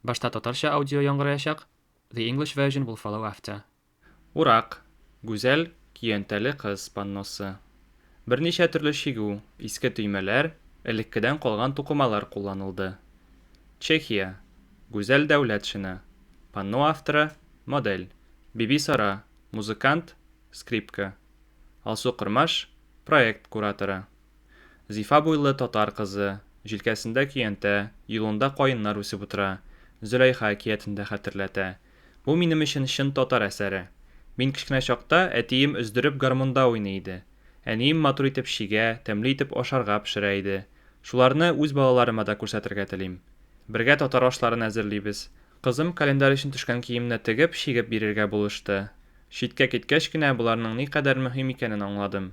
Башта татарча аудио яңгыраячак, the English version will follow after. Урак, гүзәл, көянтәле кыз панносы. Берничә төрле чигү, иске төймәләр, элеккедән калган тукымалар кулланылды. Чехия, гүзәл дәүләт шина. Панно авторы, модель. Бибисара, музыкант, скрипка. Алсу Кормаш, проект кураторы. Зифа буйлы татар кызы, җилкәсендә көянтә, юлында каеннар үсеп утыра, Зөләйха әкиятен дә хәтерләтә. Бу минем өчен чын татар әсәре. Мин кечкенә чакта әтием өздереп гармунда уйный иде. Әнием матур итеп чигә, тәмле итеп ашарга пешерә иде. Шуларны үз балаларыма да күрсәтергә телим. Бергә татар ашларын әзерлибез. Кызым календарь өчен төшкән киемне тегеп, чигеп бирергә булышты. Читкә киткәч кенә боларның никадәр мөһим икәнен аңладым.